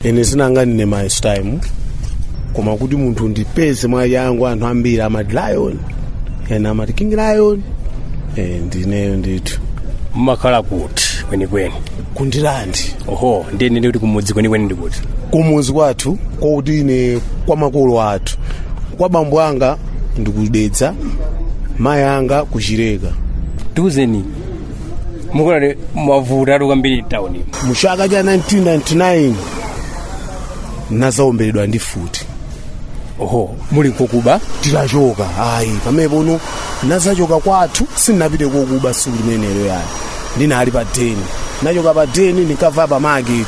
ine zina langa ndine my time koma kuti munthu andipeze mwachangu anthu ambiri amati lion ena amati king lion eh, ndineyo ndithu mumakhala kuti kwenikweni ku Ndirande oho ndiye ndikuti kumudzi kwenikweni ndi kuti kumuzi kwathu kwakuti ine kwa makolo athu kwa bambo anga ndi ku Dedza mayi anga ku Chileka tiuzeni munkavutatu kwambiri mtawuni muchaka cha 1999 nazaomberedwa ndi mfuti oho muli kokuba titachoka ayi pamenepo no nazachoka kwathu sindinapite kokuba siku limenelo yani ndinali pa deni nachoka pa deni ndinkava pa market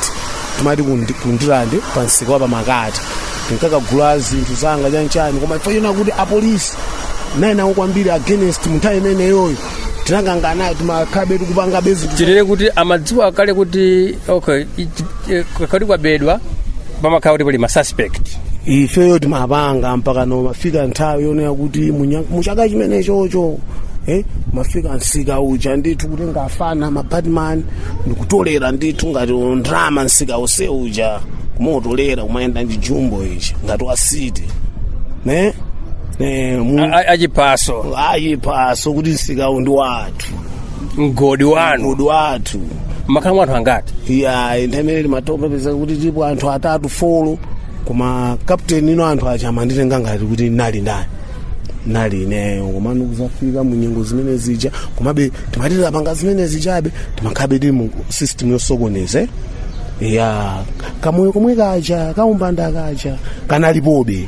timati ku Ndi- ku Ndirande pa msika wa pa makati ndinkakagula zinthu zanga chanchani koma ife chonena kuti apolisi nayenawo kwambiri against munthawi imeneyoyo tinakangana timakhabe tikupanga bezi chilere kuti amadziwa kale kuti okay ichi- eh, kodi kwabedwa pamakhala kuti pali masuspect ifeyo timapanga mpaka no mafika nthawi yonena kuti munya- muchaka chimenechocho eh, mafika msika uja ndithu kuti ngafana mabatman ndikutolera ndithu ngati ndrama msika onse uja kumotolera kumayenda ndi jumbo ichi ngati wa city ne Eh, mu- A- a- achiphaso ayi phaso kuti msikawu ndi wathu mgodi wanu mgodi wathu mmakhala muli anthu angati ya nthawi imene timathopezeka kuti tipo anthu atatu folo koma captain ine no anthu aja amanditenga ngati kuti nali ndani nali ineyo koma ndikuzafika mu nyengo zimene zija komabe timatha kupanga zimene zijabe timakhabe tili mu system yosokoneza ya kamoyo komwe kaja kaumbanda kaja kanalipobe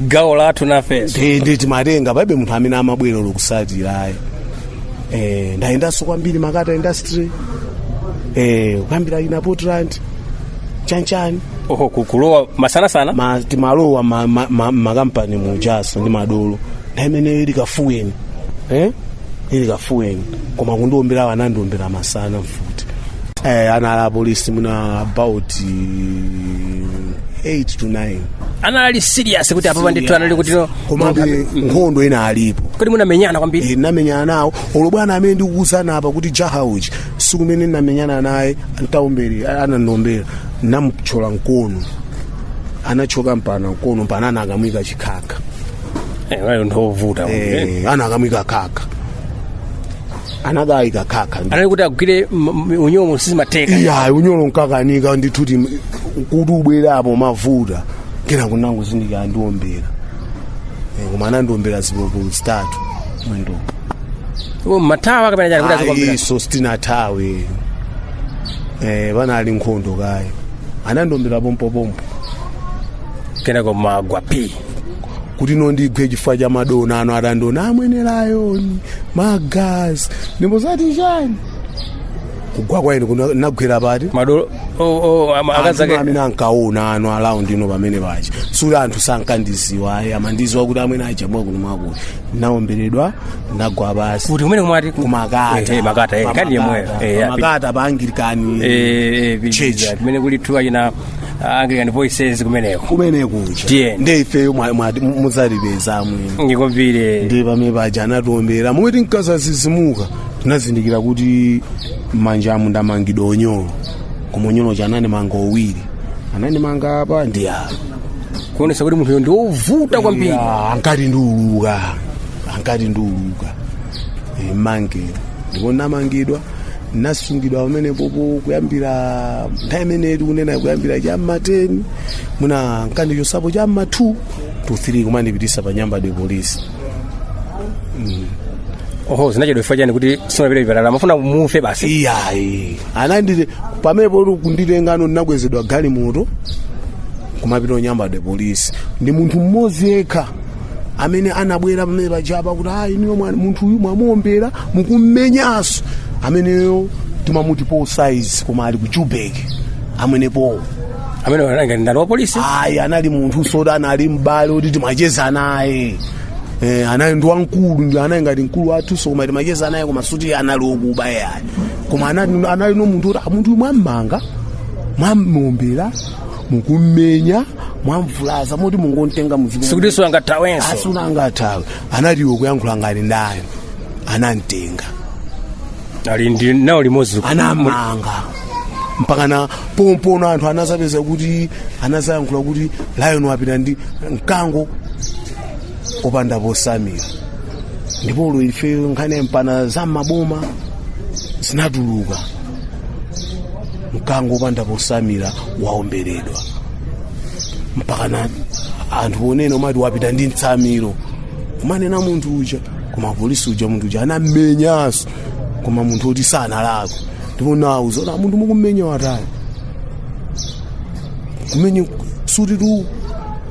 gawo lathu nafenso Eh, ndi timatenga palibe munthu amene amabwera olo kusatira ayi eh, ndayendanso kwambiri Makata industry eh, kuyambira kaya portland chanchani oho ku- kulowa masanasana ma, timalowa ma, ma, ma, makampani mujaso ndi madolo nthawi imeneyo ili kafiyu eh? ili kafiyu koma kundiombera awo anandiombera masana mfuti eh, anali apolisi mwina about eh, 8 to 9 anali serious kuti apapa ndithu anali kuti no komabe nkhondo inalipo kodi munamenyana kwambiri Eh, ndinamenyana nawo olo bwana amene ndikukuuzani apa kuti jaha uji siku mene ndinamenyana naye atandiombera anandombera namthyola mkono anachoka mpana mkono mpana anakamuika chikhakha Eh, munali ovuta eh, anakamuika chikhakha anakayika khakha anali kuti agwire m- m- unyolo sizimatheka iyayi unyolo nkakanika ndithu kuti kuti pabwerapo mavuto kenaka nangozindikira andiombera Eh, koma anandiombera zipolopolo zitatu mwendo Iwo mumathawa kapena chani kuti azikuomberani ayinso sitinathawe eh panali nkhondo kaye anandiombera pompopompo kenako ndagwa p kuti ndigwe chifukwa cha madona ano atandiona amwene layoni magazi ndipo zati chani kugwa kwa ine kuno nagwera pati madolo oh, oh, ama- Anthu akazi amene ankaona ano alaundi ino pamene pa Chisuli anthu sankandiziwa ayi amandiziwa kuti amene achabwa kuno mwakuti naomberedwa nagwa pasi kuti kumene kumati kumakata Eh, eh, makata eh, kani yemweyo Eh, api- makata pa anglikani Eh, eh, Church. kumene kuli thuwa china anglican voices kumeneko kumene kuja Tiyeni. ndi ifeyo mwa- mwa- mudzatipeza mwina mukapite ndi pamene paja anatiombera momwe tinkazatsitsimuka tinazindikira kuti m'manjamu ndamangidwa onyolo koma onyolo wake anandimanga owiri anandimanga apa ndi apa kuonesa kuti munthuyo ndi wovuta kwambiri Ya, ankati ndiuluka ankati ndiuluka Eh, mangedwe ndipo ndamangidwa nasungidwa pamenepopo kuyambira nthawi imene tikunena kuyambira cha mma 10 muja nkandichotsapo cha mma 2 to 3 kumandipitisa pa Nyambadwe polisi oho zinachedwa chifukwa chani kuti simunapite chipatala amafuna mufe basi iyayi ananditenga pamenepo kunditenga no ndinakwezedwa galimoto kumapita ku Nyambadwe polisi ndi munthu mmodzi yekha amene anabwera pamene pajapa kuti ayi inuyo mwa- munthu uyu mwamuombera mukummenyanso ameneyo timamuti paul size koma ali ku Joburg amene paul ameneyo nanga ndani wa polisi ayi anali munthu zoti anali m'bale oti timacheza naye Eh, anali ndi wamkulu ndi anali ngati mkulu wathu so koma timacheza naye koma sikuti anali okuba yayi koma anali anali no munthu oti "Ah, munthu uyu mwammanga mwamuombera mukummenya mwamvulaza moti mungomutenga muzipita sikuti sangathawenso sangathe angathawe anati iwe kuyankhula ngati ndani anamtenga ali nawo limodzi anamanga mpakana pomwepo anthu anazapeza kuti anazayankhula kuti lion wapita ndi mkango opanda potsamira ndipo olo ife nkhani mpaka za maboma zinatuluka mkango opanda potsamira waomberedwa mpakana anthu ponena kumati wapita ndi mtsamiro kumanena munthu uja koma polisi uja munthu uja anammenyanso koma munthu oti sanalakwe ndipo anauza zoti munthu mukummenya watani kumenya suti tu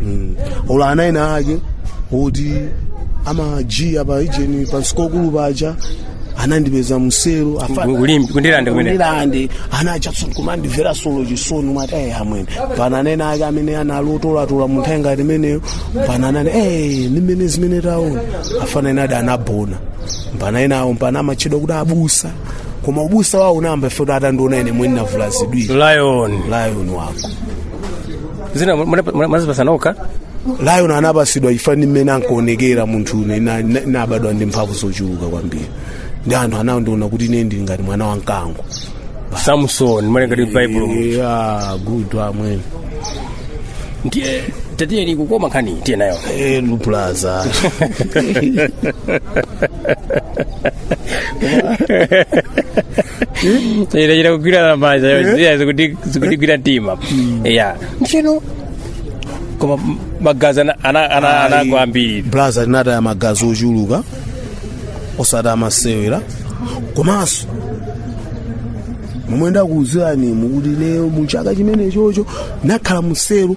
Mm. olo ana ena ake oti amajiya pa ujeni pa sukulu paja anandipeza mselo Kulimbe, kundirande kumene. kundirande ana achatson kumandimvera so chisoni umati ayi amwene pana anena ake amene analotolatola munthu ayi ngati imeneyo pana anani ee ndimene zimene taona afana enaadi anabona mpaka enawo pano amatchedwa kuti abusa koma ubusa wawo unayamba ife kuti atandiona ine mwini navulazidwira lion lion wako dzina munadzipatsa nokha lion linapatsidwa chifana ndi mmene ankaonekera munthune na- na- nabadwa ndi mphamvu zochuluka kwambiri ndi anthu anandiona kuti ine ndili ngati mwana wa mkango samson malinga ndi baibulo yeah, good amwene ndiye tatiyeni kukoma nkhani tiye nayo Eh, blaza ine chita kugwirana manja yoziya zikuti zikutigwira mtima ya ndiyeno koma magazi ana- ana- ana- anagwa ambiri blaza tinataya magazi ochuluka osati masewera komanso momwe ndakuuziranimu kuti lero mu chaka chimenechocho nakhala muselo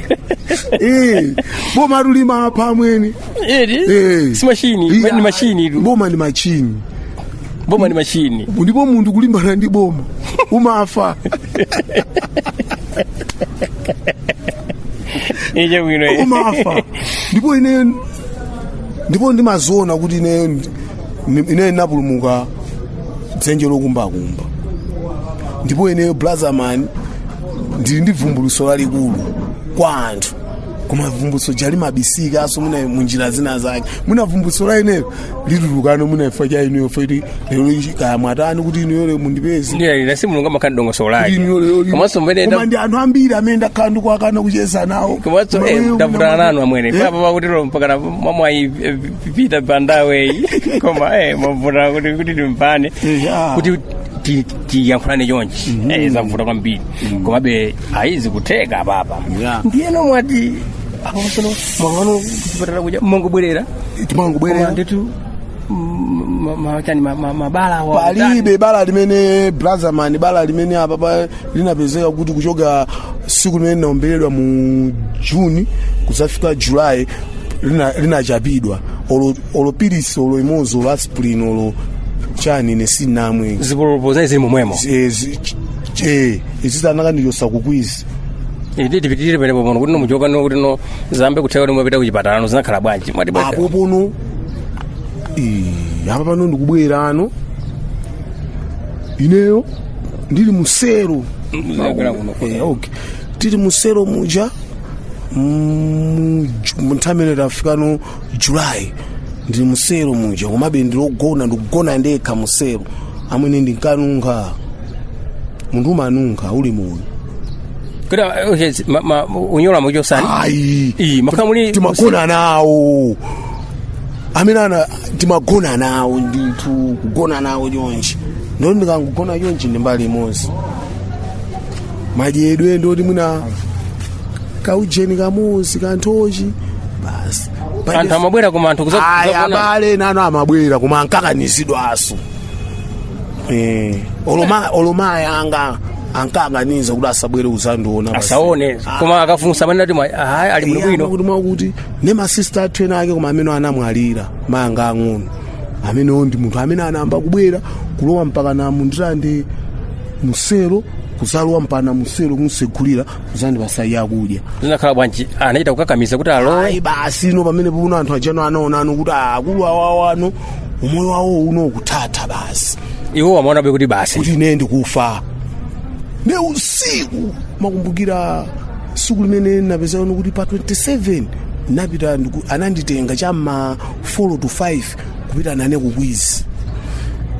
Eh, boma atulima apa amwene Eri? Eh. Si machine, Iya. ni machine idu. boma ni machini Boma ni machine. ndipo munthu kulimbana ndi boma umafa Eje bwino. eh. umafa ndipo ine ndipo ndimaziona kuti ine ndi- ine ndapulumuka dzenje lokumbakumba ndipo ineyo blazaman ndili ndi vumbuluso lalikulu kwa anthu koma vumbuluso ija limabisikanso munjira zina zake mwina vumbuluso la ineyo litulukano mwina imfa ya ineyo feti lero ichi kaya mwatani kuti ineyo lero mundipeze Ndiye nasi mulungu amakhala ndi dongosolo lake. Ineyo lero li- Komanso amwene koma ndi anthu ambiri amene ndakhala ndikuwakana kucheza nawo komanso Koma eh, ineyo ndavutana muna- nanu amwene Eh? apapa kuti lero mpaka na- mwamwayi eh, pita pandaweyi koma eh, mwavutana kuti kuti tipange Eh, ah. kuti ti- tiyankhulane chonchi mm -hmm. zavuta kwambiri mm -hmm. komabe ayi zikutheka apapa yeah. ndiyeno mwati apasono mwakana kuchipatala kuja mongobwerera timangobwerera nditu machani mabala palibe bala limene blazaman bala limene apapa linapezeka kuti kuchoka siku limene linaomberedwa mu juni kudzafika julayi linatchapidwa lina olo olo pilisi olo imodzi olo aspirin olo chani ine sinamwe zipolopolo zinayi zili momwemo Eh, zi- ch- ch- eh, izi anakandichotsa kukwizi iti tipitirire pamenepo pano kuti nomuchoka no kuti no zambe kutheka kuti mwapita kuchipatala no zinakhala bwanji mwati apo pano eh, apa pano ndikubwerano ineyo ndili musero Ndabwera kuno. Eh, okay. tili musero muja mm, mu- mu nthawi imene tafika no julayi ndili musero muja komabe ndilogona ndikugona ndekha musero amwene ndinkanunkha munthu umanunkha uli muno kuti ah, okay, si- ma- ma- unyolo muchoseni ayi Iyi, makhala muli timagona nawo amene ana timagona nawo ndithu kugona nawo chonchi ndoti ndikangogona chonchi ndi mbali imodzi madyedwe ndoti mwina kaujeni kamodzi kanthochi basi anthu amabwera koma anthu kuza- ayi kuzaona- abale nanu amabwera koma ankakanizidwaso Eh, olo ma- olo mayanga ankakaniza kuti asabwere kuzandiona basi. asaone Ah, koma akafunsa amanati ayi ali bwino iyamba bwino kuti mwakuti ne masista athu ena ake koma amene anamwalira mayanga ang'ono amenewo ndi munthu amene anayamba kubwera kulowa mpaka na mundira ndi musero kuzalowa mpaka musero kumsegulira kuzandipasa zakudya zinakhala bwanji anachita kukakamiza kuti alowe ayi basi ino pamene puno anthu aja no anaonano kuti akulu awawano umoyo wawo uno ukuthatha basi iwo amaonabe kuti basi kuti ine ndikufa ne usiku ndimakumbukira siku limene napezano kuti pa 27 napita ndiku- ananditenga cha ma 4 to 5 kupita nane kukwizi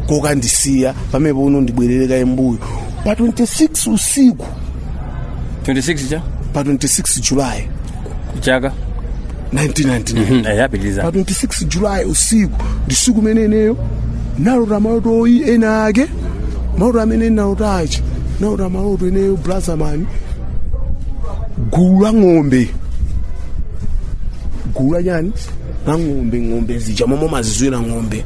kokandisiya pamene puno ndibwerere kaye mbuyo pa 26 usiku 26 cha pa 26 julayi chaka 1999 ya pitilizani pa 26 julayi usiku ndi siku limene ineyo nalota maloto oyi ena ake maloto amene nalota achi nalota maloto ineyo blazamani gulu la ng'ombe gulu la chani la ng'ombe ng'ombe zija momwe mazizwira ng'ombe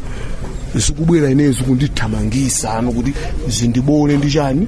zikubwera ineyo zikundithamangisano kuti zindibole ndi chani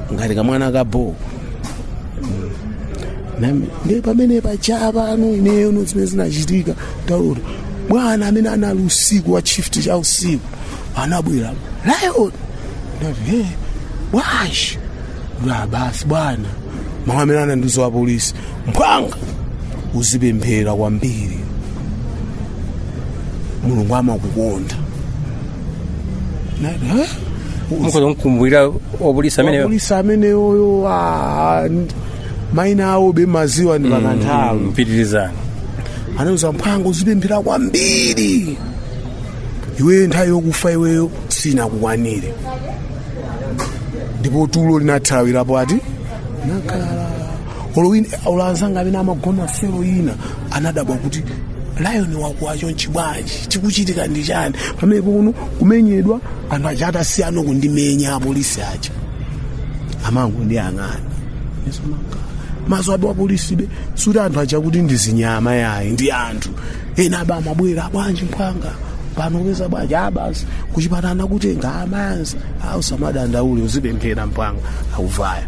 ngati kamwana ka bho nami ndiye pamene paja pano ineyo no zimene zinachitika ndi zoti bwana amene anali usiku wa shift cha usiku anabwera lion ndati he bwashi la basi bwana mawu amene anandiuza wapolisi mphwanga uzipemphera kwambiri mulungu amakukonda mukhoza kumkumbukira wapolisi amene polisi ameneyoyo ah, n- maina awo bemaziwa ndi pakanthawi pitilizani anauza mphwanga uzipemphera kwambiri iweyo nthawi yokufa iweyo sinakukwanire ndipo tulo linathawirapo ati nakhala olo azanga amene amagona selo ina anadabwa kuti lion wakuwacho nchibwanji chikuchitika ndi chani pamene pono kumenyedwa anthu aja atasiyano kundimenya apolisi aja amangondiyang'ana m'maso abe wapolisibe suti anthu aja kuti ndi zinyama yayi ndi anthu ena aba amabwera bwanji mphwanga pano ukupeza bwanji ah basi kuchipatana kutenga amayanzi ah usamadandaule uzipemphera mphwanga akuvaya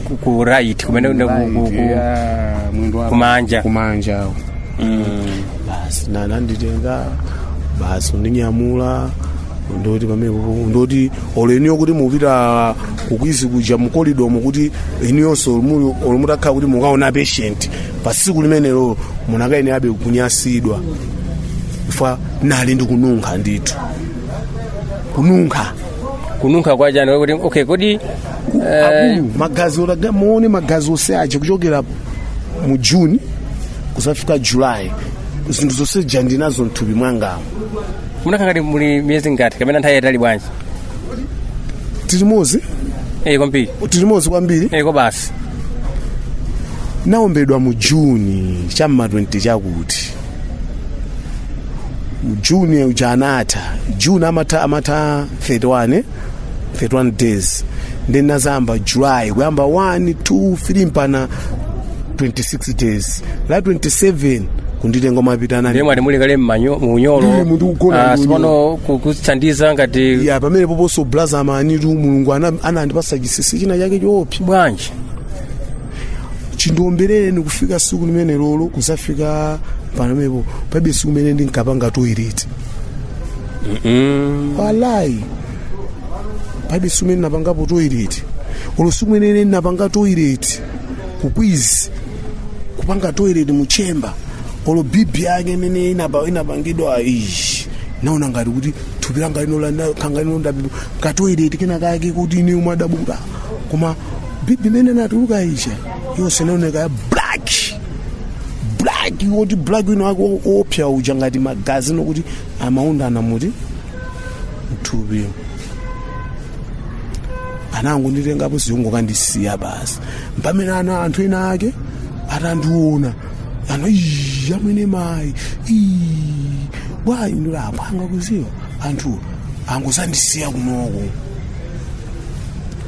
ku- ku right kumene ku- ku- ku- Yeah, mwendo wako. kumanja. kumanja awo Mm. basi nananditenga basi kundinyamula ndoti pamene kuku- ndoti olo inuyo kuti mupita ku Queens kuja mukolidomo kuti inuyonso muli- olo mutakhala kuti mukaona patient pa siku limenelo munakayenerabe kunyasidwa chifukwa nali ndikununkha ndithu kununkha kununkha kwachani kuti okay kodi Akulu, magazi otaya muone magazi onse aja kuchokera mu juni kuzafika julayi zinthu zonse zija ndinazo mthupi mwangamo munakhala ngati muli miyezi ingati kapena nthawi yatali bwanji tilimozi eyi kwambiri tilimozi kwambiri eyi kobasi naombedwa mu juni cha mma 20 chakuti mu juni uja anatha juni amatha amatha 31 31 days ndiye inazayamba july kuyamba 1 2 3 mpana 26 days la 27 kunditenga kumapita nane ndiye mwati muli kale mmanyo- muunyolo Ndili munthu kugona Ah, ndi sipano ku- kutithandiza ngati ya pamenepoponso blaza amanitu mulungu ana- anandipasa chisisi china chake choopsa bwanji chindiombereni kufika siku limenelolo kuzafika pamenepo pabe siku limene ndinkapanga toilet walayi palibe siku limene napangapo toilet olo siku limene napanga toilet ku Queens kupanga toilet mu chamber olo bibi yake imene inapa- inapangidwa ishi naona ngati kuti thupi langa linokanganilondabibu katoilet kena kake koti ine umadabuka koma bibi imene inatuluka isha yonse inaoneka ya black black woti black wina wake wo- wopsya uja ngati magazi okuti amaundana moti mthupi anangonditengapo ziyongo kundisiya basi mpamene ana anthu ena ake atandiona ano "Ii, amwene mayi ii, bwayi ndilapanga kuziwa anthu angozandisiya kunoko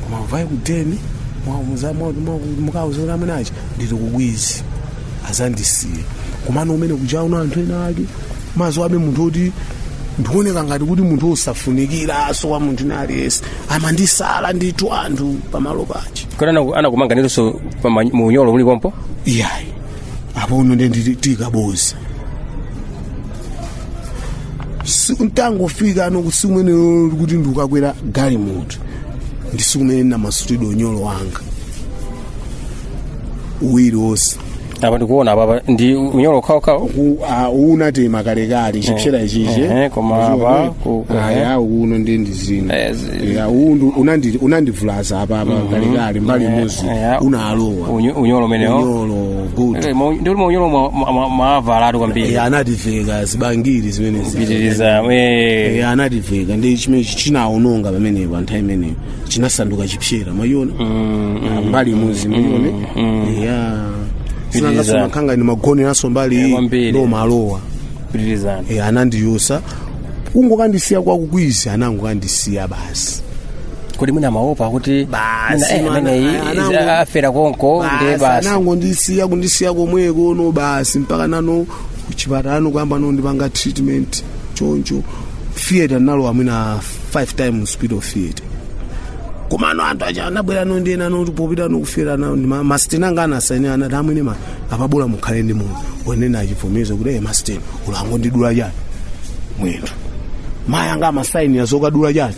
koma uvaye kudeni mukauza amunachi ndili ku Queens azandisiye komano umene kujauna anthu ena ake mazo abe munthu oti ndikuoneka ngati kuti munthu osafunikiraso kwa munthu wina aliyense amandisala ndithu anthu pamalo pachi kodi anakumanganiranso mu unyolo uli pompo iyayi apono nde nditi- tikaboza siku ntangofika kuno siku menelo kuti ndikukakwera galimoto ndi siku mene ndinamasulidwa unyolo wanga uwiri wonse apa ndikuona apapa ndi unyolo wokhawokhawu Ku- ah, unatema kalekale chipsera ichichi Eh, eh, koma apa, ku- ku- aya uno ndi ndizina Eh, ya uwu ndu- unandi- unandivulaza apa apa kalekale mbali imodzi Eya. unalowa Unyo- unyolo umenewo unyolo good Eh, ma- ndi uli maunyolo mwa- mwa- mwa- mwavalatu kwambiri ya anativeka zibangiri zimenezi pitiriza eh. ya anativeka ndi chimene chinaononga pamenepo nthawi imeneyo chinasanduka chipsera mwaiona Ah, mbali imodzi mwaione ya Pitiriza. sinangaso makhanga ni magoneraso mbali Eh, iyi kwambiri. ndo malowa pitirizani Eh, anandiyusa kungokandisiya kwa ku Queens anangokandisiya basi kodi mwina amaopa kuti Basi, mwina, eh, mwana- ameneyi anango- izi- afera konko ndi basi basi anangondisiya kundisiya komweko no basi mpaka nano kuchipatalano kuyamba nondipanga treatment choncho theatre nalowa mwina five times hospital theatre komano anthu aja anabwera nondiena noti popita nokufera nao masiteni anga anasainira anati amwene ma apa bola mukhale ndi moyo onena achivomezo kuti eye masiteni bola angondidula chani mwendo mayi anga amasainira zokadula chani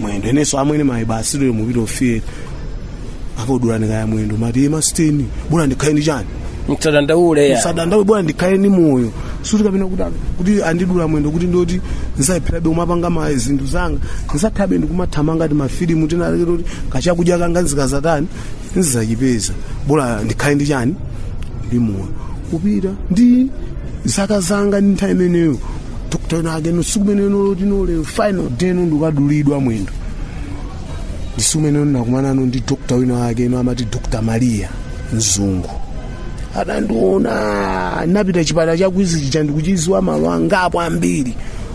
mwendo enenso amwene mayi basi lero mupita ku theatre akakudulani kaye mwendo mati masiteni bola ndikhale ndi chani musadandaule ya musadandaule bola ndikhale ndi moyo sikuti kapena kuti kuti andidula mwendo kuti ndoti nzalepherabe kumapanga ma zinthu zanga nzathabe ndikumathamanga ti mafilimu tinalekera kuti kachakudya kanga nzikazatani ndizachipeza bola ndikhale ndi chani ndi moyo kupita ndi zaka zanga ndi nthawi imeneyo dokta wina wakeno siku imeneyo noloti nolero final day no ndikadulidwa mwendo ndi siku imeneyo ndinakumanano ndi dokta wina wakeno amati dokta maria mzungu atandiona napita chipatala cha Queens chija ndikuchiziwa malo angapo ambiri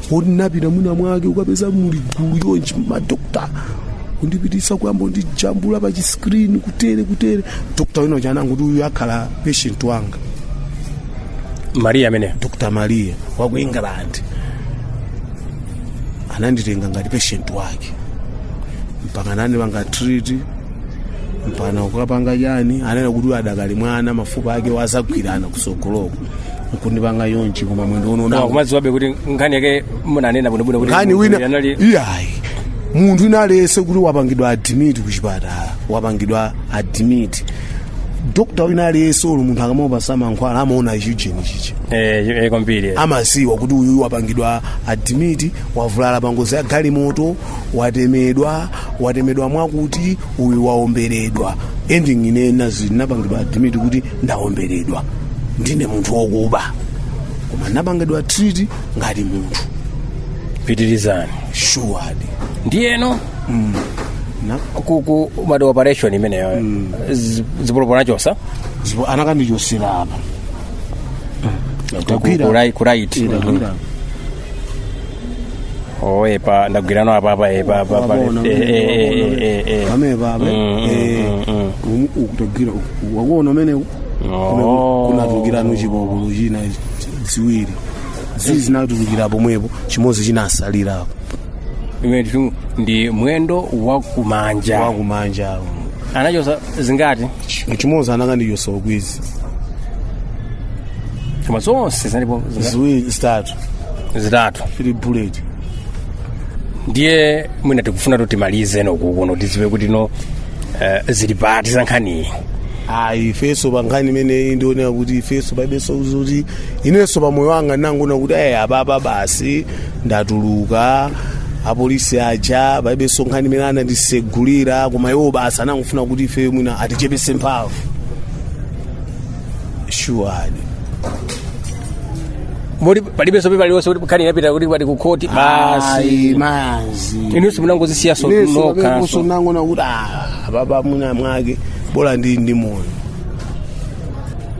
poti napita mwina mwake ukapeza muli gulu chonchi madokta kundipitisa kuyamba kundijambula pa chiskrini kutere kutere dokta wina uja anangoti uyu akhala patient wanga mariya ameneyo dr maria wa ku england ananditenga ngati patient wake mpaka nandipanga treat mpaka kukapanga chani ananena kuti uyu adakali mwana mafupa ake azagwirana kusogoloko kundipanga chonchi koma mwendo uno Koma kumadziwabe kuti nkhani yake munanena bwinobwino kuti nkhani wina anali iyayi munthu wina aliyense kuti wapangidwa admit kuchipatala wapangidwa admit dokta wina aliyense olo munthu akamamupatsa mankhwala amaona ichi ujeni chichi eh eh, kwambiri eh. amadziwa kuti uyu wapangidwa admit wavulala pangozi ya galimoto watemedwa watemedwa mwakuti uyu waomberedwa and ine ndinapangidwa admit kuti ndawomberedwa ndine munthu wokuba koma ndapangidwa treat ngati munthu pitirizani shuwadi ndiyeno Na- ku- ku- mu operation imeneyo zi- zipolopolo anachotsa zipo anakandichotsera apa Ku- ku- ku right- ku right. Ira, ira. oh epa ndagwirano apapa epa apapa Waona, Eh, eh, eh, waona, eh, eh. pamenepa Mm, mm, eh, mm, mm. umu- ukutagwira uku- wakuona kumeneku? Oh. Kuno- kunatulukirano chipopolo china ziwiri ziwiri zinatulukira pomwepo chimodzi chinatsalirapo Imene tu ndi mwendo wakumanja wakumanja awo anachotsa zingati chimodzi anakandichotsa ku Queens koma zonse zinalipo zina- ziwiri zitatu zitatu three bullet ndiye mwina tikufuna kuti timalize kunokuno tidziwe kuti no eh, zili pati za nkhaniyi ayi ifenso pa nkhani imeneyi ndionera kuti ifenso palibenso kuti inenso pa moyo wanga ndinangoona kuti ayi apapa basi ndatuluka apolisi aja palibenso nkhani imene anandisegulira koma iwo basi anangofuna kuti ife mwina atichepetse mphamvu shuwadi moti palibenso paliwonse kuti nkhani inapita kuti kwati ku khoti basi mazi inunso munangozisiyanso nokhanso. ndinangoona kuti ah, apapa mwina mwake bola ndili ndi moyo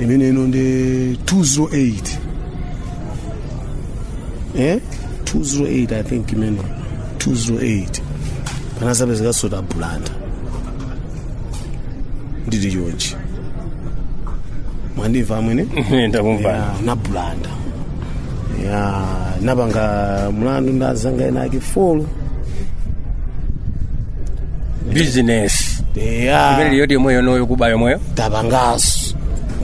imene ino ndi 208 eh 208 i think imene 208 panadzapezekanso ku Blantyre ndili chonchi mwandimva amwene ndakumva ku Blantyre ya napanga mlandu ndi azanga ena ake for business imene ya riot yomweyo noyo kuba yomweyo tapanganso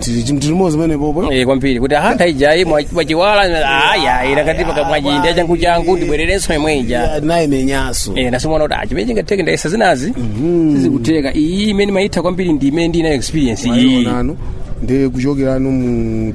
tili limodzi pamenepopo Eh, kwambiri kuti ahantha ijayi mwachiwala aya inakati pakamwajinda changu changu ndibwererenso yomwe ija naimenyanso Eh, ndinaona kuti chimene chingatheke ndayesa zinazi sizikutheka iyi imene ndimaitha kwambiri ndi imene ndinayo experience iyi nano ndi kuchokerano mu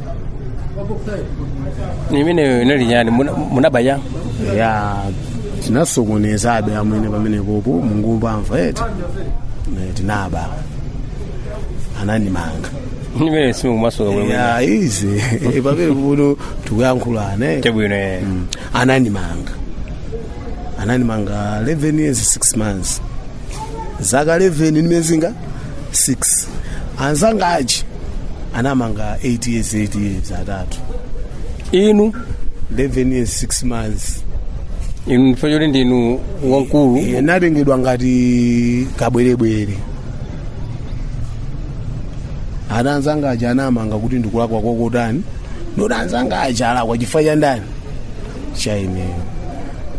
imene inali nyani muna- munabaya ya tinasokonezabe amwene pamenepopo mukungomva eti Eh, tinaba anandimanga imene simukumasuka bwino ya izi Eh, pamenepopo tikuyankhulana eh. chabwino eh. Mm. anandimanga anandimanga 11 years 6 months zaka 11 ndi miyezinga 6 anzanga aja anamanga 8 years 8 years atatu inu 11 years 6 months inu ndiye choti ndinu wamkulu Iye ndatengedwa ngati kabwerebwere ana anzanga aja anamanga kuti ndikulakwa kwakotani ndoti anzanga aja alakwa chifukwa cha ndani cha ineyo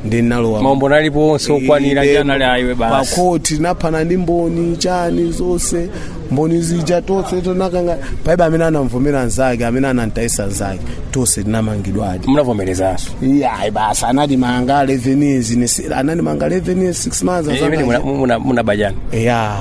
ndinalowa maumboni alipo onse okwanira Inde, ndi anali aiwe basi pakoti ndapanda ndi mboni chani zonse mboni zija tonse tinakana palibe amene anamvomera nzake amene anamtayisa nzake tonse tinamangidwadi munavomerezanso iyayi basi anatimanga 11 years ine si- anandimanga 11 years 6 months imene asaka- munaba chani ya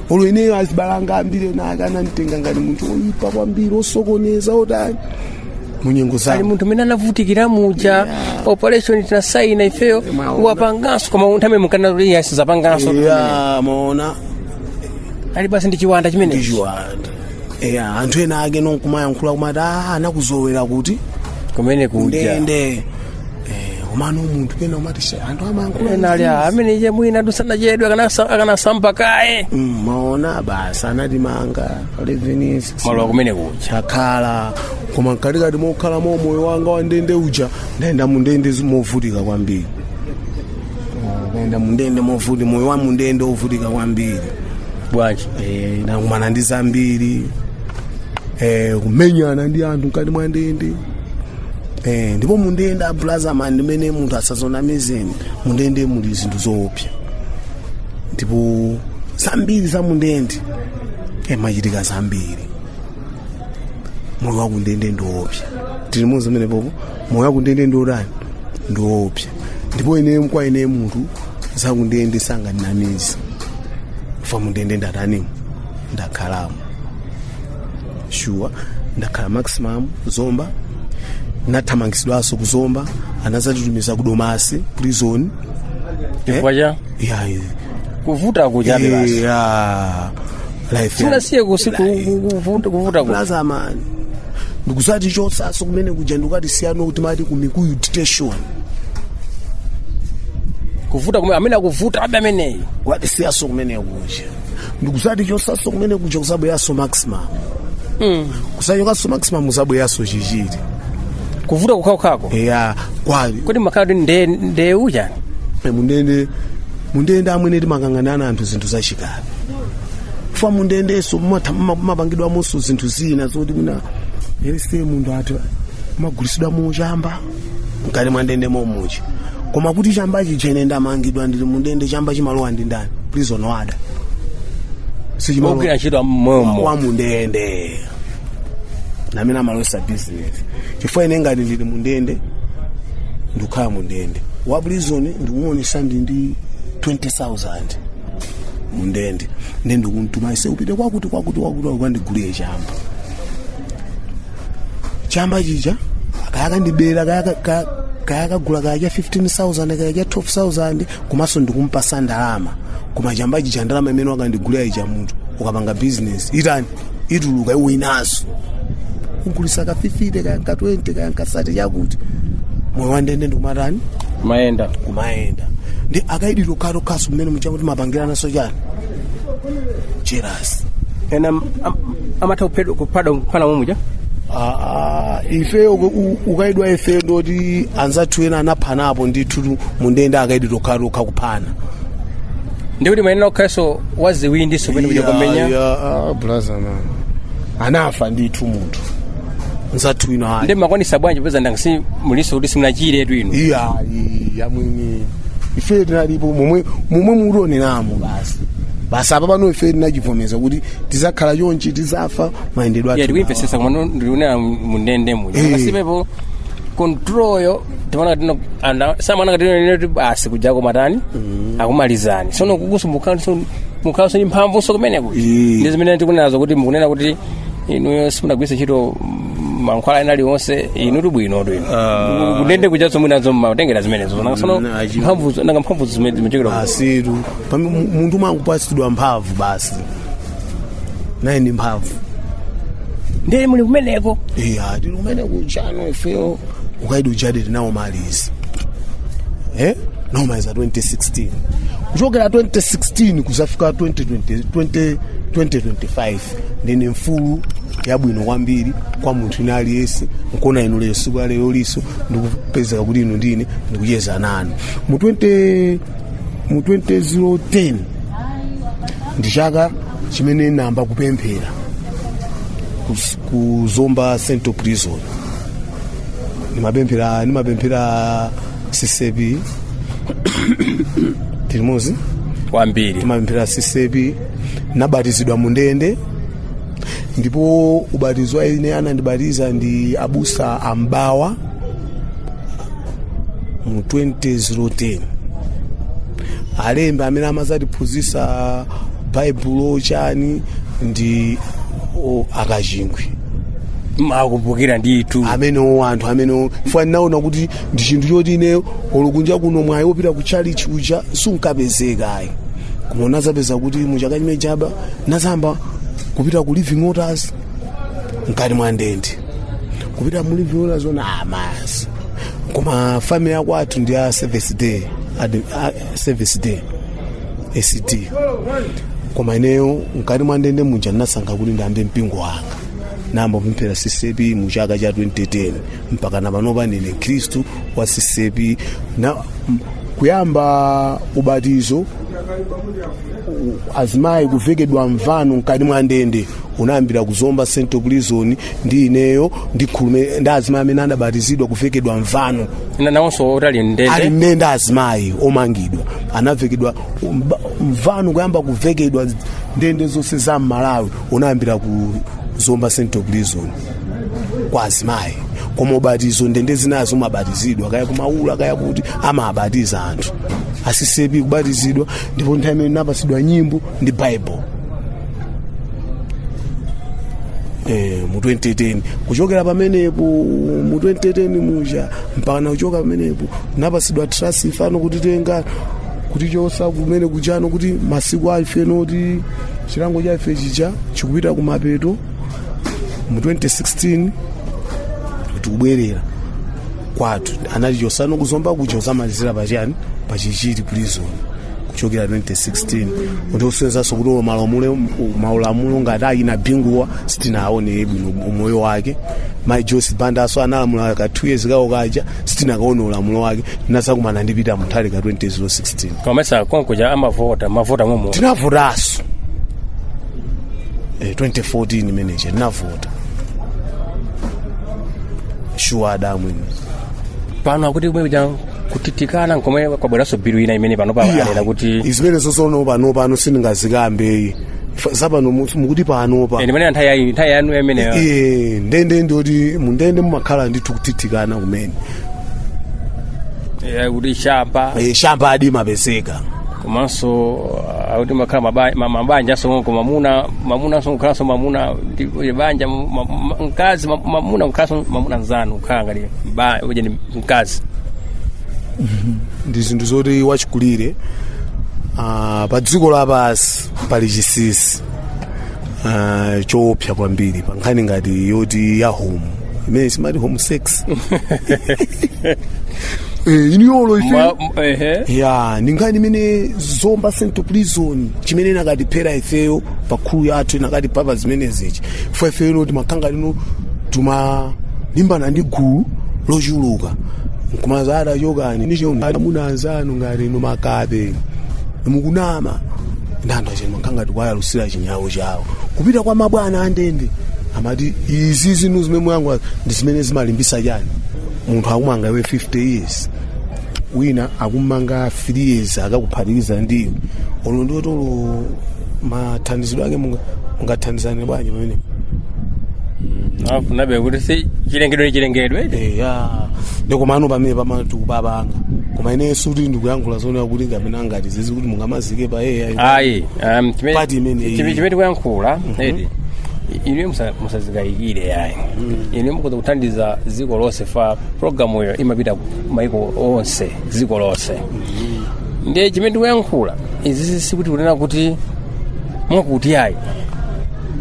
olo ineyo azibale anga ambiri ena ake ananditenga ngati munthu oyipa kwambiri osokoneza otani munyengo zake ali munthu amene anavutikira muja operation tinasaina ifeyo mwaona. wapanganso koma munthu ameneyu mmakana kuti ya sazapanganso ya mwaona ali basi ndi chiwanda chimene ndichiwanda eya anthu ena ake ndikumayankhula kumaati "Ah, anakuzolowera kuti kumene kuja ndende komano munthu pena umati se anthu amayankhula ena ali "Ah, ameneyi mwina ndi usana chedu akanasa- akanasamba kaye Mm, mwaona basi anatimanga 11 years malo akumene kuja chakhala koma mkatikati mokhalamo umoyo wanga wandende uja ndaenda mundende zi- movutika kwambiri Ah, ndaenda mundende movuti moyo wa mundende ovutika kwambiri bwanji Eh, ndakumana ndi zambiri Eh, kumenyana ndi anthu mkati mwa ndende Eh, ndipo mundende brother man ndimene munthu asazanamizeni mundende muli zinthu zoopsa ndipo zambiri za mundende mmachitika zambiri moyo wakundende ndiopsa tilimudzi pamenepopo moyo wakundende ndiotani ndiopsa ndipo ine kwa ine munthu zakundende sangandinamize ifa mundende ndatanimo ndakhalamo shuwa ndakhala maximum ku Zomba ndathamangisidwanso ku Zomba anazatitumiza ku Domasi prison chifukwa cha yeah, yeah. kuvuta kujabe basi yeah. life ya- sinasiye kusi ku- ku- kuvuta kuvuta ku- brother man ndikuzatichosaso kumene kuja ndikukatisiyano kuti mmati ku Mikuyu detention kuvuta kumene amene akuvutabe ameneyi kukatisiyanso kumene kuja ndikuzatichotsanso kumene kuja kuzabweranso maximum kuzachokanso maximum kuzabweranso chichiri kuvuta kukhaukhako eya kwali kodi makhalidwe nde nde uja Eh, mundende mundende amwene timakang'anana anthu zinthu zachikale chifukwa mundendenso mumatha- muma- mumapangidwamonso zinthu zina zoti wina aliyense munthu ati mmagulitsidwamo chamba mkati mwa ndende momuja koma kuti chamba chija ine ndamangidwa ndili mu ndende chamba chimalowa ndi ndani prison warder sichimalowa ogwira ntchito momo wa mundende ndi amene amalowetsa business chifukwa ine ngati ndili mundende ndikukhala mundende wa prison ndikuonesa ndi ndi 20000 mundende ndi ndikumtuma iwe upite kwakuti kwakuti kwakuti ukandigulire chamba chamba chija akakandibera akakagula kaya cha 15000 kaya cha 12000 komanso ndikumpatsa ndalama koma chamba chija ndalama imene wakandigulira ija munthu ukapanga business itani ituluka ibwerenso ugulitsa ka 50 kaya ka 20 kaya ka 30 mwakuti moyo wandende ndikumatani mayenda kumayenda ndi akaidi okhaokhanso mmene muja kuti mapangirananso chani jealous ena am- am- amatha kuphedwa kuphada kuphana mumuja Ah, ah, ifeyo uku- u- ukaidi wa ifeyo ndoti anzathu ena anaphanapo ndithu mundende akaidi tokhatokha kuphana ndikuti mayenera kukhalanso waziwindi kumene kuja kwamenya brazana anafa ndithu munthu nzathu inu ayi nde mmakwanitsa bwanji popeza ndangasi mulinso kuti simunachire bwino iya iya mwini ife tinalipo momwe momwe mukutioneramo basi basi apa pano ife tinachivomeza kuti tizakhala chonchi tizafa mayendedwe athu tikuwamvetsetsa komano ndikunena mundende muja Eh. pasapepo control yo timaona tino ana samana ngati ino ti basi kuja kumatani akumalizani sono kukusowa mukhanso mukhanso ndi mphamvunso kumene kuti Eh. ndi zimene tikunenazo kuti mukunena kuti inuyo simunagwiritsa ntchito mm, mankhwala ena aliwonse inu ndi bwino ndi kundende kuja zomwe nazo mmatengera zimenezo Nanga sono Mm, achiwo. mphamvu nanga mphamvu zimene zimachokera ku- asitu Pamene mu- munthu umangopatsidwa mphamvu basi naye ndi mphamvu ndiye muli kumeneko iya tili kumene kujano ifeyo ukaidi ujadi tinaumaliza eh? tinaumaliza 2016 kuchokera 2016 kuzafika 2020, 20, 2025 ndine mfulu yabwino kwambiri kwa munthu wina aliyense nkuona inu lero siku la lerolinso ndikupezeka kuti inu ndi ine ndikucheza nanu mu 20 mu 2010 ndi chaka chimene namba kupemphera kus- ku zomba central prison nimapemphera nimapemphera CCAP tili mozi kwambiri timapemphera CCAP nabatizidwa mu ndende ndipo ubatizo wa ine anandibatiza ndi abusa a M'bawa mu 2010 alembe amene amazatiphunzisa baibulo chani ndi o, a Kachingwe makumbukira ndithu amenewo anthu amenewo chifukwa ndinaona kuti ndi chinthu choti ine olo kunja kuno mwayi wopita ku tchalitchi uja sunkapezeka ayi koma unazapeza kuti muchaka chimene chaba nazamba kupita ku living waters mkati mwa ndende kupita mu living waters ona amasi koma family ya kwathu ndi a seventh day Ad- a- seventh day SDA koma ineyo mkati mwa ndende muja ndinasankha kuti ndiyambe mpingo wanga namba kupemphera CCAP mu chaka cha 2010 mpaka na panopa ndine mkhristu wa CCAP na m- kuyamba ubatizo azimayi kuvekedwa mvano mkati mwa ndende unayambira ku zomba central prison ndi ineyo ndi khulume ndi azimayi amene adabatizidwa kuvekedwa mvano Na- nawonso otali ali mndende mmene azimayi omangidwa anavekedwa mba- mvano kuyamba kuvekedwa ndende zonse za mmalawi unayambira ku zomba central prison kwa azimayi koma ubatizo ndende zinazo umabatizidwa kaya ku maula kaya kuti amabatiza anthu a CCAP kubatizidwa ndipo nthawi imene napatsidwa nyimbo ndi bible Eh, mu 2010 kuchokera pamenepo mu 2010 muja mpaka nakuchoka pamenepo napasidwa transfer no kutitenga kutichosa kumene kujano kuti masiku a ife ndoti chilango cha ife chija chikupita kumapeto mu 2016 tikubwerera kwathu anatichosano ku zomba kuja kuzamalizira pa chani pa chichiri prison kuchokera 2016 kuti usenzanso kuti ulo malamulo maulamulo ngati ayina binguwa sitinaone bwino umoyo wake mai joyce bandaso analamula ka 2 years kawo kaja sitinakaone ulamulo wake tinazakumana ndi Peter Mutharika 2016 komanso konkuja amavota mavota momo tinavotaso eh, 2014 imene ija ndinavota shuwa adamu ine pano akuti kumene kuja kuthithikana nkomwe kwabweranso bilu ina imene pano pa anena kuti zimenezo sono pano pano sindingazikambe ayi zapano mu- mukuti pano pa eh, ndimene nthawi ya- nthawi yanu imeneyo Iye, ndende ndoti mundende mumakhala ndithu kuthithikana kumene Eh, kuti shamba Eh, shamba adimapezeka komanso uh, akuti amakhala maba- ma- mabanja aso koma mamuna mamuna aso kukhalanso mamuna ndi kuti banja ma- ma- mkazi ma- mamuna kukhalanso mamuna nzanu kukhala ngati ujeni mkazi ndi zinthu zoti wachikulire ah, pa dziko lapansi pali chisisi Ah, choopsa kwambiri pa nkhani ngati yoti ya home imene timati home sex Eh, iniyolo ife Ma- m- ehe. ya ndi nkhani imene zomba central prison chimene inakatiphera ifeyo pa crew yathu inakatipatsa zimenezichi fo ifeyo loti makanga lino tumalimbana ndi gulu lochuluka nkumazati chokani nacho amuna anzanu ngati inu makape mukunama ndanda chino makanga tikwayalusira chinyawo chawo kupita kwa mabwana andende amati izi zinthu zimene muyangwa ndi zimene zimalimbisa chani munthu akumanga iwe 50 years wina akumanga 3 years akakuphatikiza ndiye olo ndi oti olo mathandizidwe ake munga- mungathandizane bwanji pamene nabe kuti si chilengedwe ni chilengedwe eya ndikomano pamene pamati kubabanga koma ineso kuti ndikuyankhula zoona kuti ndi amene angathe zizi kuti mungamazi zike pa yeye ayi. ayi um, chimene- Pati imene iyi. chimene- chimene tikuyankhula adi inu musa- musazikayikire ayi inu mukhoza kuthandiza dziko lonse fa programu iyo imapita maiko onse dziko lonse ndiye chimene tikuyankhula izi sikuti kunena kuti mwakuti ayi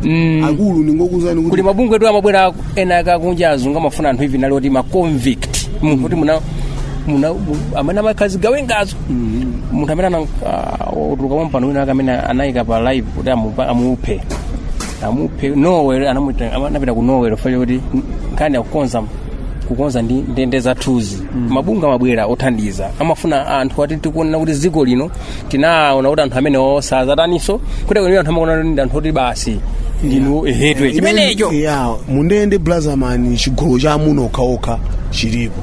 Mm, akulu ndingokuuzani kuti kuti mabungwetu amabwera ena akakunja azungu amafuna anthu even ali oti ma convict munthu kuti muna muna amene amakhazi gawengazo munthu amene ana- ah, otuluka pompano wina ake amene anayika pa live kuti amupa- amuphe amuphe norway anamuita- ama- anapita ku norway chifukwa chakuti nkhani akukonza kukonza ndi ndende zathuzi mabungwe amabwera othandiza amafuna anthu ati tikuona kuti dziko lino tinaona kuti anthu amenewo sazataninso kuti kwenikweni anthu amaona kuti ndi anthu oti basi ndinu ehetwe chimenecho ya mundende blazaman chigulu cha amuna okhaokha chilipo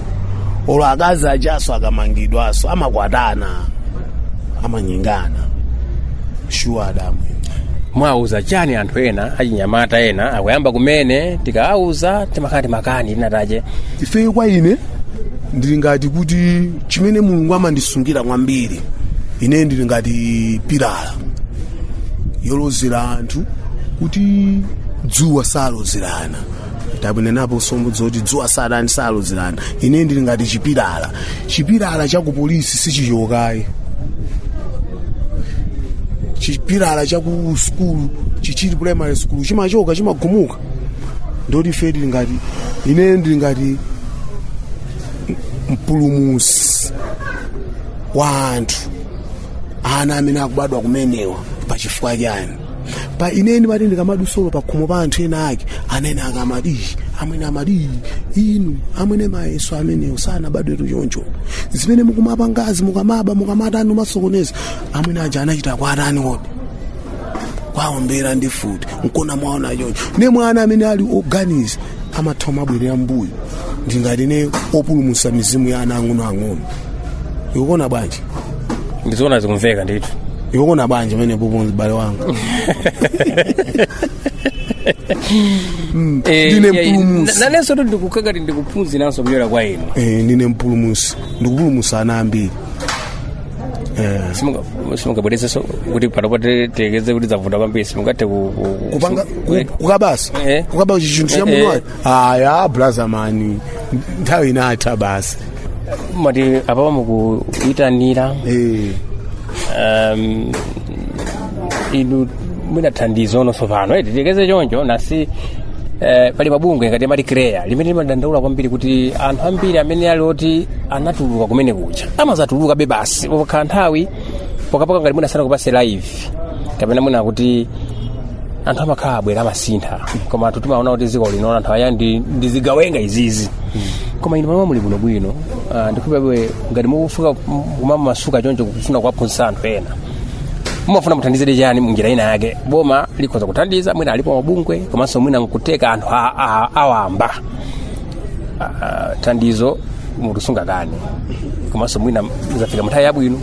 olo akazi ajaso akamangidwaso amakwatana amanyengana shuwa adamu mwauza chani anthu ena achinyamata ena akuyamba kumene tikawauza timakhala timakani tinapanga tache ifeyo kwa ine ndili ngati kuti chimene mulungu amandisungira kwambiri ine ndili ngati pilala yolozera anthu kuti dzuwa salozerana takunenapo sombo zoti dzuwa satani salozerana ine ndili ngati chipilala chipilala cha ku polisi sichichokayi chipilala cha ku skulu Chichiri Primary school chimachoka chimagumuka ndoti ife tili ngati ine ndili ngati mpulumutsi wa anthu ana amene akubadwa kumenewa pa chifukwa chani pa ine ndimati ndikamadutsa olo pa khomo pa anthu ena ake anene akamati amwene amati inu amwene mayeso amenewo sanabadwetu choncho zimene mukumapangazi mukamaba mukamatani umasokoneza amwene aja anachita kwa atani kodi kuwaombera ndi mfuti nkona mwaona choncho ne mwana amene ali oganiza amatha kumabwerera mbuyo ndili ngati ndine opulumutsa mizimu ya ana ang'onoang'ono ukuona bwanji ndizoona zikumveka ndithu iwe ukuona bwanji pamene popo m'bale wanga Eh, Ndine eh, mpulumutsi. na- nanensotu ndikukhala ngati ndikuphunziranso kuchokera kwa inu Eh, ndine mpulumutsi ndikupulumutsa ana ambiri Eh, Simunga- simungabwerezenso kuti panopo tilekeze kuti zavuta kwambiri simungathe ku- ku- kupanga ku- ku- kukabanso Eh. kukaba chinthu cha Eh, eh. munthu ayi aya blazamani nthawi inatha basi mati apapa mukuyitanira Eh, um, inu mwina thandizo ononso pano eti titengeze choncho naye si eh, pali mabungwe ngati ma CHREAA limene limadandaula kwambiri kuti anthu ambiri amene ali oti anatuluka kumene kuja amadzatulukabe basi pakhala nthawi pokhapokha ngati mwina sanakupatse life kapena mwina kuti anthu amakhala abwera amasintha koma anthu timaona kuti dziko lino anthu aya ndi ndi zigawenga izizi koma inu pamene muli bwinobwino ah, ndikupempheni ngati mukufuna kumamasuka choncho kufuna kuwaphunzitsa anthu ena mumafuna muthandizidwe chani munjira ina yake boma likhoza kuthandiza mwina alipo mabungwe komanso mwina nkutheka anthu a- a- awamba Ah, thandizo munthu sungakane komanso mwina zafika muthawi yabwino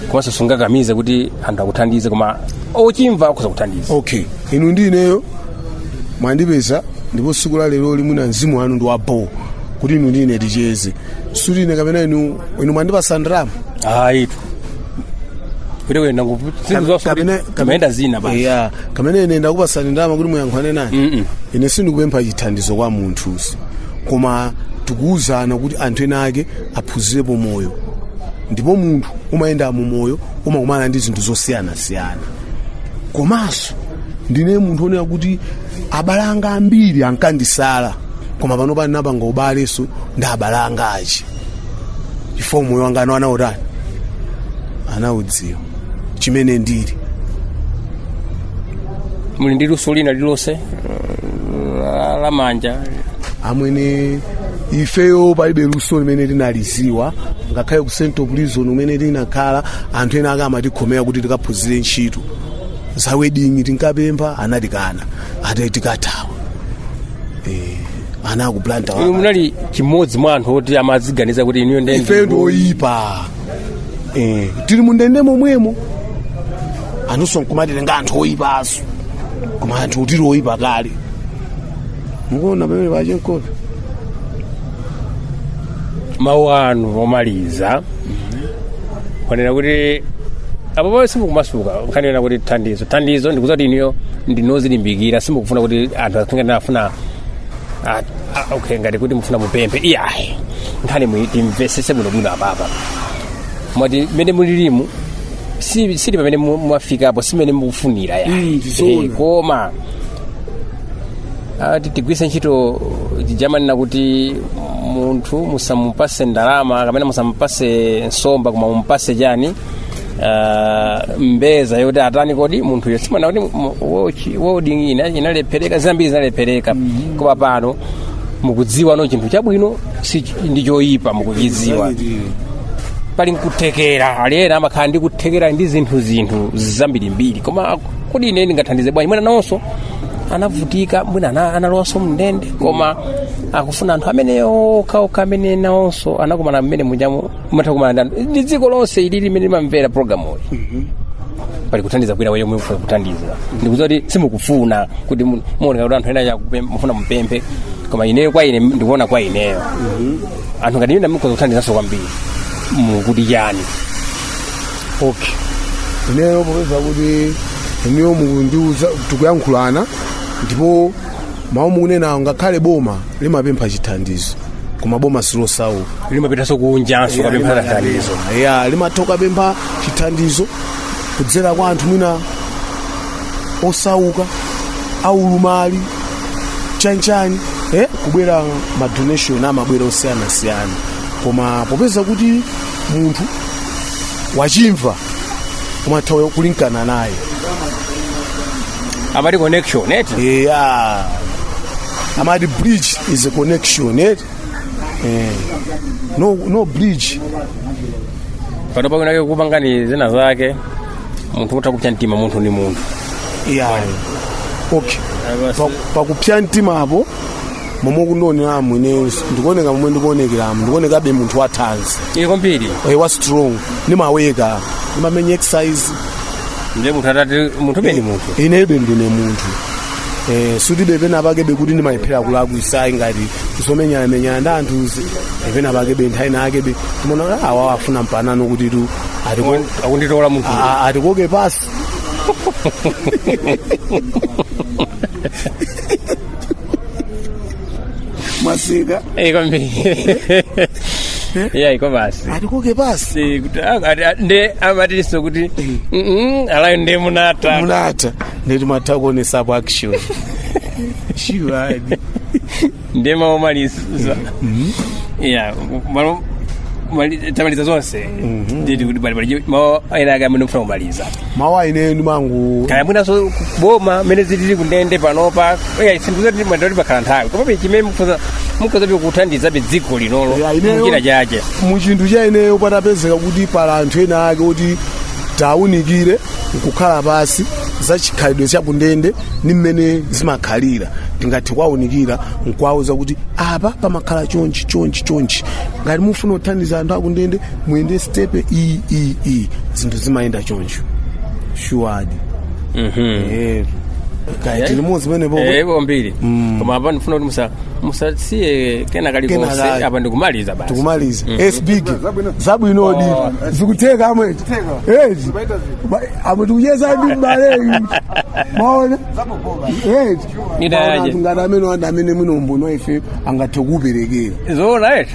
komanso sungakamize kuti anthu akuthandize koma ochimva akhoza kuthandiza okay inu ndi ineyo mwandipeza ndipo tsiku la lero limafuna mzimu wanu ndi wabho kuti inu ndi ine ticheze sikuti ine kapena inu inu mwandipatsa ndalama ayi kuti kuyenda zinthu zonse Kapena- kuti timayenda zina basi yeah. kapena ine ndakupatsani ndalama kuti muyankhulane nane Mm-mm. ine sindikupempha chithandizo kwa munthu si koma tikuwuzana kuti anthu ena ake aphunzirepo moyo ndipo munthu umayenda mu moyo umakumana ndi zinthu zosiyanasiyana komanso ndine munthu onena kuti abale anga ambiri ankandisala koma pano pano napanga ubalenso ndi abale anga aja chifukwa moyo wanga anautani anaudziwa chimene ndili muli ndi luso lina lililonse la- la manja amwene ifeyo palibe luso limene tinalidziwa ngakhale ku central prison umene tinakhala anthu ena ake amatikhomera kuti tikaphunzire ntchito za welding tinkapempha anatikana ati tikathawa Eh, ana a ku Blantyre inu munali m'modzi mwa anthu oti amaziganiza kuti inuyo ndi- ife ndioyipa Eh, tili mundende momwemo anthunso nkumatitenga anthu oyipanso yes koma anthu tili oyipa kale mukuona pamene pache mkopi mawu anu omaliza mwanena kuti apapa simukumasuka kunena kuti thandizo thandizo ndikudziwa kuti inuyo ndinu odzilimbikira simukufuna kuti anthu akhale ngati mufuna a- a- okay ngati kuti mufuna mupemphe iyayi nkhani iyi timvesese bwinobwino apapa mwati mmene mulilimu si sili pamene mu- mwafikapo simene mukufunira ya Mm, zoona. Eh, koma tigwiritse ntchito chija amanena kuti munthu musamupase ndalama kapena musamupase nsomba koma mumupase chani ah, mbeza yoti atani kodi munthuyo simunakhuti mu- wochi- wodi ina- inalephereka zambiri zinalephereka koma pano mukudziwa no chinthu chabwino si ndi choyipa mukuchidziwa pali nkuthekera alipo ena amakhala ndi kuthekera ndi zinthu zinthu zambirimbiri koma kodi ine ndingathandize bwanji mwina nawonso anavutika mwina ana- analowanso m'ndende koma akufuna anthu amene okhaokha amene nawonso anakumana mmene munjamo munakumana nazo ndi dziko lonse ili limene limamvera programuyi pali kuthandiza kwina wina mufuna kuthandiza ndikudziwa kuti simukufuna kuti mu- muoneka kuti anthu ena chakupe- mufuna mupemphe koma ineyo kwa ine ndikuona kwa ineyo anthu ngati ine mukhoza kuthandizanso kwambiri mukuti chani okay ineyo popeza kuti ineyo mukundiuza tikuyankhulana ndipo mawu mukunenawo ngakhale boma limapempha chithandizo koma boma silosauka limapitanso kunjanso kukapempha chithandizo ya limatha kukapempha chithandizo kudzera kwa anthu mwina osauka aulumali chanchani eh? kubwera madonation amabwera osiyanasiyana koma popeza kuti munthu wachimva umatha kulumikizana naye amati connection eti eya amati bridge is a connection eti Eh. no, no bridge pano penapake kupangana zina zake munthu utha kupsa mtima munthu ndi munthu ya okay Pa- pakupsa mtima apo momwe ukundioneramu ine ndikuoneka momwe ndikuonekeramu ndikuonekabe munthu wathanzi kwambiri Eh, wa strong ndimaweka ndimamenya exercise ndiye munthu atati munthu beni munthu inebe ndine munthu eh, sikutibe pena pake bekuti ndimalephera kulakwitsa ayi ngati zomenyana-menyana ndi anthuzi eh, pena pake be nthawi inake be timaona kuti awa wafuna mpanapano kuti tu atiko- akunditola munthu a- a- atikoke pansi mwasika Eh, kwambiri yeah iko basi atikoke pansi Si, kuti- ah, ati- ah, nde amatinso kuti "Mm-mm, alayo nde munata munata ndeti matakuonesapo action shuwadi nde maomaliza yeah malo- mali- tamaliza zonse nditi kuti pali pali mawu enaake amene mukufuna kumaliza mawu aine ndimangu kaya mwinanso kuboma mmene zilili kundende panopa eya sindikuti mwatenga pakhala nthawi komabe chimene mukhoza mukhoza be kuthandiza be dziko linolo Ya, ineyo- muchina chache mu chinthu cha ineyo patapezeka kuti pali anthu ena ake oti tiwaunikire nkukhala pansi za chikhalidwe cha kundende ndi mmene zimakhalira tingathe kuwaunikira nkuwawuza kuti apa pamakhala chonchi chonchi chonchi ngati mufuna kuthandiza anthu akundende muyende stepe iyi iyi iyi zinthu zimayenda choncho shuwadi Eh, kaya tili limodzi penepo Eh, kwambiri koma apa ndifuna kuti musa- musasiye kena kalikonse Kena kali. apa ndikumaliza basi tikumaliza sbig zabwinodi zikutheka amwene ezi Ba- amwene tikucheza ndi mbaleyu maona ezi Ida yaje. ngati amene anthu amene mwino mudera ife angathe kuperekera zoona eti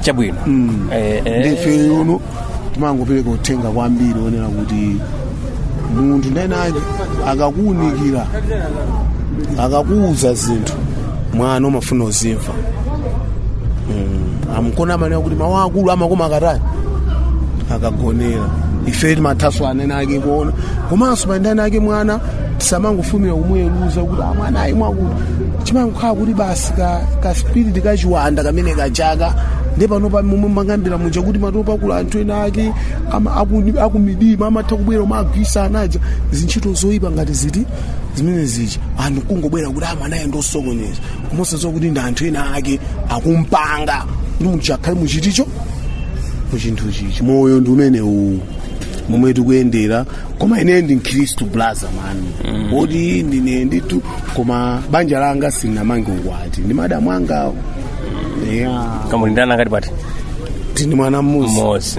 chabwino Eh, eh. ife uno timangopereka uthenga kwambiri onena kuti munthu ndi anaake akakuunikira akakuuza zinthu mwana umafunika uzimva Mm, nkona amanena kuti mawu akulu amakoma akatani akagonera ife timathanso ana ena ake kuona komanso pali ana ena ake mwana tisamangofulumira kumuweruza kuti a mwanayu mwakuti chimangokhala kuti basi kaspiriti kachiwanda kamene kajaka ndi pano pa momwe mmakambira muja kuti matsoka akula anthu ena ake akumidima amatha kubwera kumagwiritsa anaja zintchito zoyipa ngati ziti zimene zija anthu kungobwera kuti a mwanayu ndi osokoneza koma osadziwa kuti ndi anthu ena ake akumpanga kuti munthu akhale muchinthucho muchinthu chichi moyo ndi umene uwu momwe tikuyendera koma ine ndi mkhristu blaza mani poti ndine ndithu koma banja langa sinamange ukwati ndi madamu angawo ya koma muli ndi ana angati pati tili ndi mwana mmodzi mmodzi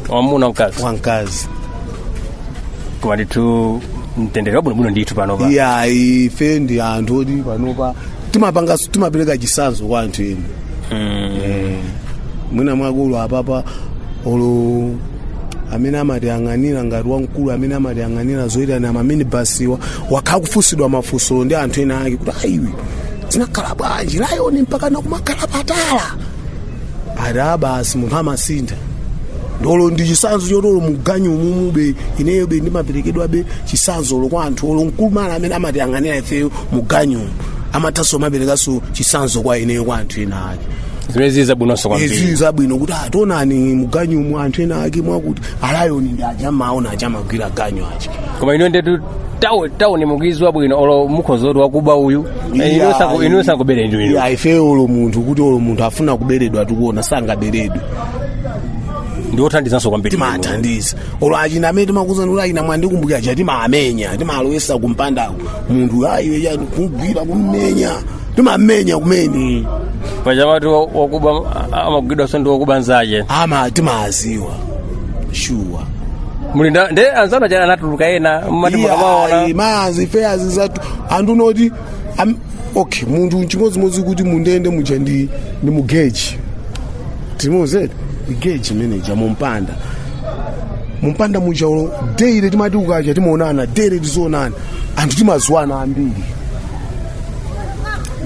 wamuna mkazi wamkazi koma ndithu mtendere wabwinobwino ndithu panopa ya ife ndi anthu oti panopa timapanga timapereka chisanzo kwa anthu eni Eh, mwina mwakulu apapa olo amene amatiyang'anira ngati wamkulu amene amatiyang'anira zoyitanira maminibasiwa wakhala akufunsidwa mafunso ndi anthu ena ake kuti ayiwe zinakhala bwanji layoni mpaka nakumakhala patala ati a basi munthu amasintha ndolo ndi chisanzo chotolo muganyumube ineyo be ndimaperekedwabe chisanzolo kwa anthu olo mkulu amene amatiyang'anira ifeyo muganyu amathanso kuperekanso chisanzo kwa ineyo kwa anthu ena ake zimene zili zabwinonso izi kwambiri zabwino kuti taonani muganyumu anthu ena ake mwakuti alayoni ndi aja mmaona aja amagwira ganyu aja koma ino ndetu taoni taoni mukuziwa bwino olo mukhoza kuti wakuba uyu iwe sakubera ndi inu ya ife olo munthu kuti olo munthu afuna kuberedwa tikuona sangaberedwe ndi othandizanso kwambiri timathandiza olo achina amene timakuuzani kuti achina mwandikumbukira aja timaamenya timalowesa kumpandako munthu ayiwe yani kumgwira kummenya timamenya kumene paja amati wakuba amagwidwanso ndi wakuba nzake ama timaziwa shuwa muli nda- nde anzanu aja anatuluka ena mmati mukamaona maziwa zizatu anthu unoti am- okay munthu chimodzimodzi kuti mundende muja ndi ndi mugeji timozere igeji manager mumpanda mumpanda muja ulo daily timati ukaja timaonana daily tizionana anthu timaziwana ambiri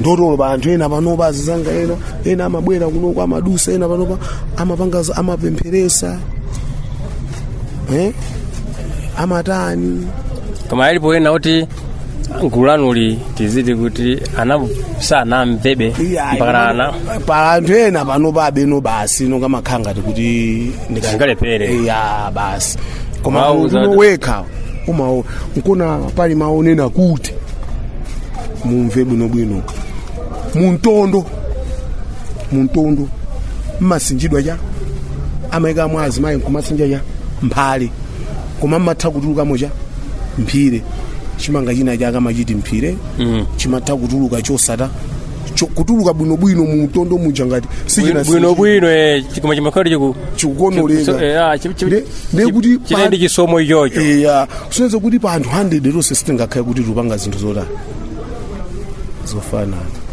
ndotolo pa anthu ena panopa azinzanga ena ena amabwera kunoko amadusa ena panopa amapanga za- amapempheresa eh? amatani koma alipo ena kuti gulu lanuli tiziti kuti ana sanamvebe Iya, mpakana ana pa anthu ena panopa abeno basi no amakhala ngati kuti ndika- Zingalepere. iya basi koma Wauza- uno wekha umaona nkona pali mau onena kuti mumve bwinobwino mumtondo mumtondo mmasinjidwa cha amaikamo azimayi nkumasinja cha mphale koma mmatha kutulukamo cha mphire chimanga china cha akamachita mphire Mm. chimatha kutuluka chosata cho- kutuluka bwinobwino mumtondo muja ngati sichina bwino bwino eh, koma chimakhala chiku chikukonoleka Chiku- eh, ah, chi- chi- Nde- nde kuti chija ndi chisomo ichocho eya kusonyeza kuti pa anthu 100 tonse sitingakhale kuti tikupanga zinthu zotani zofanana